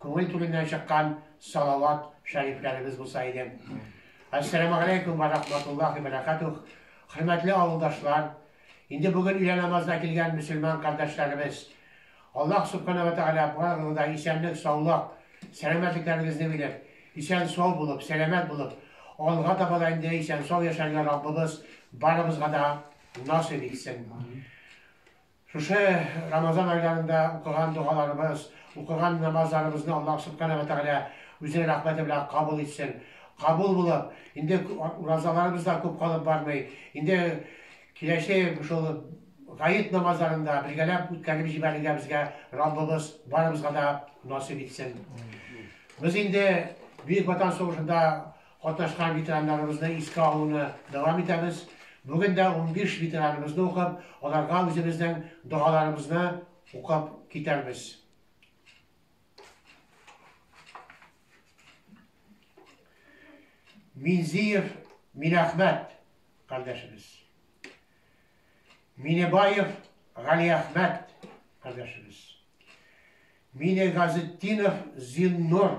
Күңел түреннән чыккан салават шәрифләребез булса иде. Ассаламу алейкум ва рахматуллахи ва баракатух. Хөрмәтле авылдашлар, инде бүген өйлә намазына килгән мөселман кардәшләребез. Аллаһ субхана ва тааля барыгызга да исәнлек, саулык, сәламәтлекләрегезне биреп, исән сау булып, сәламәт булып, алга таба да инде исән сау яшәргә Раббыбыз барыбызга да насыйп итсен. Шушы Рамазан айларында укыган догаларыбыз, укыган намазларыбызны Аллаһ Субханаһу ва Тәгалә Үзенең рәхмәте белән кабул итсен. Кабул булып, инде уразаларыбыз да күп калып бармый, инде киләсе шул гает намазларында бергәләп үткәреп җибәрергә безгә Раббыбыз барыбызга да насыйп итсен. Без инде Бөек Ватан сугышында Катнашкан ветераннарыбызны искә алуны дәвам итәбез. Бүген дә унбиш ветераныбызны укып, аларга үзебезнең догаларыбызны укып китәрбез. Минзиев Минәхмәт кардәшебез. Минебаев Галиәхмәт кардәшебез. Минегазетдинов Зиннур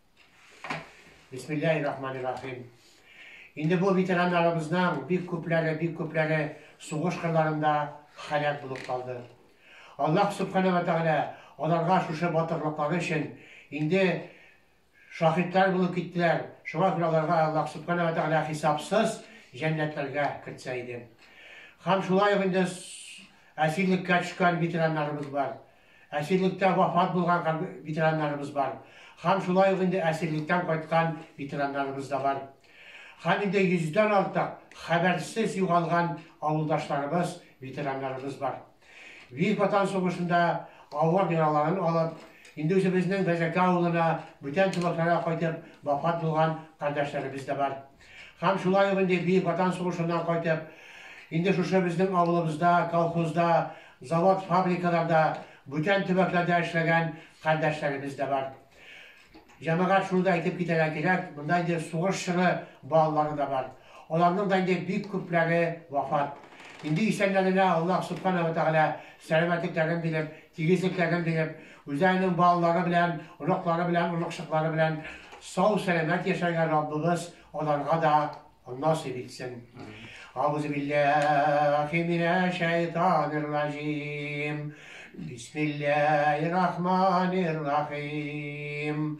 Бисмиллахи рахмани рахим. Инде бу ветераннарыбызның бик күпләре, бик күпләре сугыш кырларында халят булып калды. Аллаһ субхана ва тәгалә аларга шушы батырлыклары өчен инде шаһитлар булып киттеләр. Шуңа күрә аларга Аллаһ субхана ва тәгалә хисапсыз җәннәтләргә кертсә иде. Һәм шулай ук инде әсирлеккә төшкән ветераннарыбыз бар. Әсирлектә вафат булган һәм ветераннарыбыз бар. Һәм шулай ук инде әсирлектән кайткан ветераннарыбыз да бар. Һәм инде йөздән артык хәбәрсез югалган авылдашларыбыз, ветераннарыбыз бар. Бөек Ватан сугышында авыр яраларын алып, инде үзебезнең Бәзәкә авылына, бүтән тумакларга кайтып, вафат булган кардәшләребез дә бар. Һәм шулай ук инде Бөек Ватан сугышыннан кайтып, инде шушы безнең авылыбызда, колхозда, завод-фабрикаларда, бүтән төбәкләрдә эшләгән кардәшләребез дә бар. Җәмәгать, шуны да әйтеп китәргә кирәк, монда инде сугыш чоры балалары да бар. Аларның да инде бик күпләре вафат. Инде исәннәренә Аллаһ Субхана ва Тәгалә сәламәтлекләрен биреп, тигезлекләрен биреп, Үзләренең балалары белән, оныклары белән, оныкчыклары белән сау-сәламәт яшәргә Раббыбыз аларга да насыйп итсен. Аузубиллахи минәшәйтанир ражим. Бисмиллахир рахманир рахим.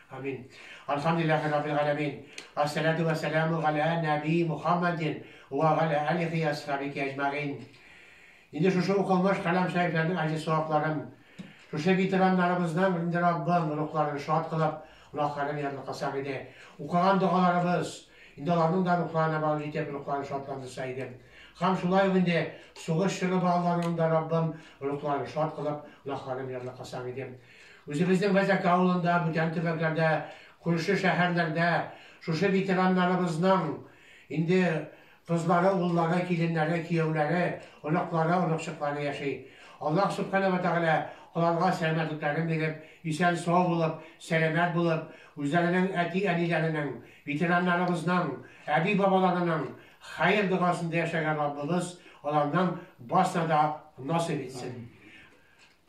Амин. Алхамдулиллахи раббил галәмин. Ассалату ва саламу галя наби Мухаммадин ва галя алихи асхабики аҗмагин. Инде шушы укылмыш калам сәйфләрнең аҗи савапларын, шушы ветераннарыбызның инде Раббым рухларын шат кылып, гөнаһларын ярлы кылсак иде. Укыган догаларыбыз, инде аларның да рухларына бал җитеп, рухларын шатландырса иде. Хам шулай ук инде сугыш чоры балаларының да Раббым рухларын шат кылып, гөнаһларын ярлы кылсак иде. Үзебезнең Мәзәк авылында, бүтән төбәкләрдә, күрше шәһәрләрдә шушы ветераннарыбызның инде кызлары, уллары, киленнәре, кияүләре, оныклары, оныкчыклары яши. Аллаһ Сүбхәнә вә Тәгалә аларга сәламәтлекләрен биреп, исән-сау булып, сәламәт булып, үзләренең әти-әниләренең, ветераннарыбызның, әби-бабаларының хәер догасында яшәргә Раббыбыз аларның барсына да насыйп итсен.